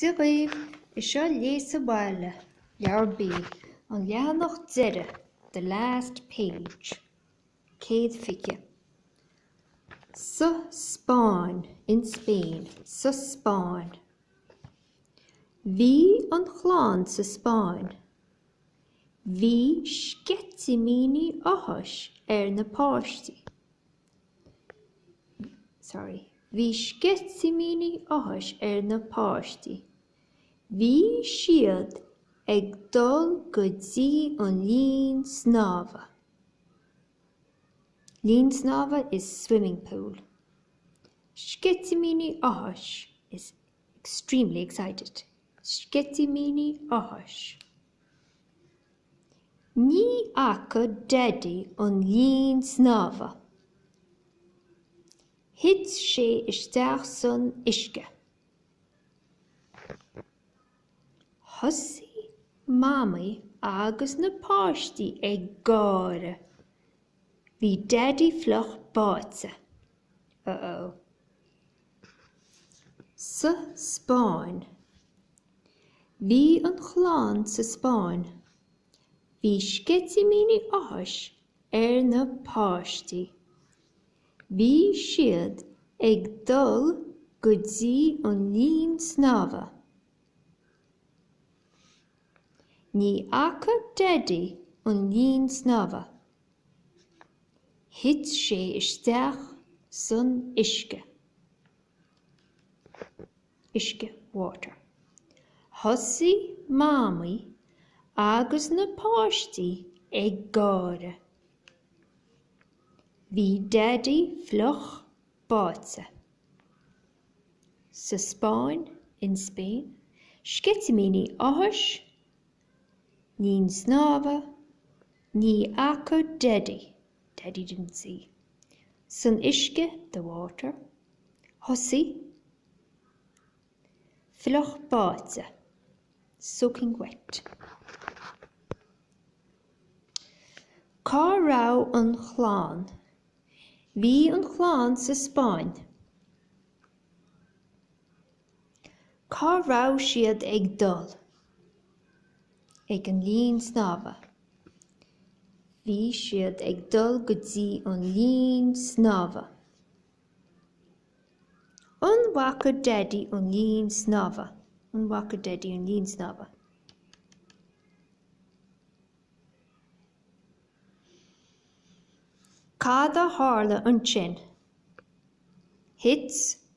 Dia dhaoibh, is seo Léigh sa Bhaile, Leabhar B, an leathanach deiridh, the last page. 120. sa Spáinn, in Spain, sa Spáinn. Bhí an chlann sa Spáinn. Bhí sceitimíní áthais ar na páistí. Sorry, bhí sceitimíní áthais ar na páistí. Bhí siad ag dul go dtí an linn snámha. Linn snámha is swimming pool. Sceitimíní áthais is extremely excited, sceitimíní áthais. Ní fhaca Daidí an linn snámha. Thit sé isteach san uisce. Thosaigh Mamaí agus na páistí ag gáire. Bhí Daidí fliuch báite. Uh-oh. sa Spáinn. Bhí an chlann sa Spáinn. Bhí sceitimíní áthais ar na páistí. Bhí siad ag dul go dtí an linn snámha. Ní fhaca Daidí an linn snámha. Thit sé isteach san uisce. uisce, water. Thosaigh Mamaí agus na páistí ag gáire. Bhí Daidí fliuch báite. Sa Spáinn, in Spain, Sceitimíní áthais linn snámha, ní fhaca Daidí, Daddy didn't see, san uisce, the water, thosaigh, fliuch báite, soaking wet. Cá raibh an chlann? Bhí an chlann sa Spáinn. Cá raibh siad ag dul? Ag an linn snámha. Bhí siad ag dul go dtí an linn snámha. An bhfaca Daidí an linn snámha? An bhfaca Daidí an linn snámha? Cad a tharla ansin? Thit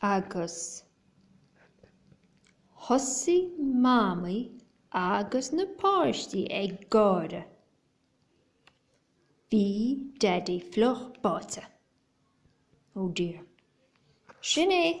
Agus thosaigh Mamaí agus na páistí ag gáire. Bhí Daidí fliuch báite. Oh dear. Sin é.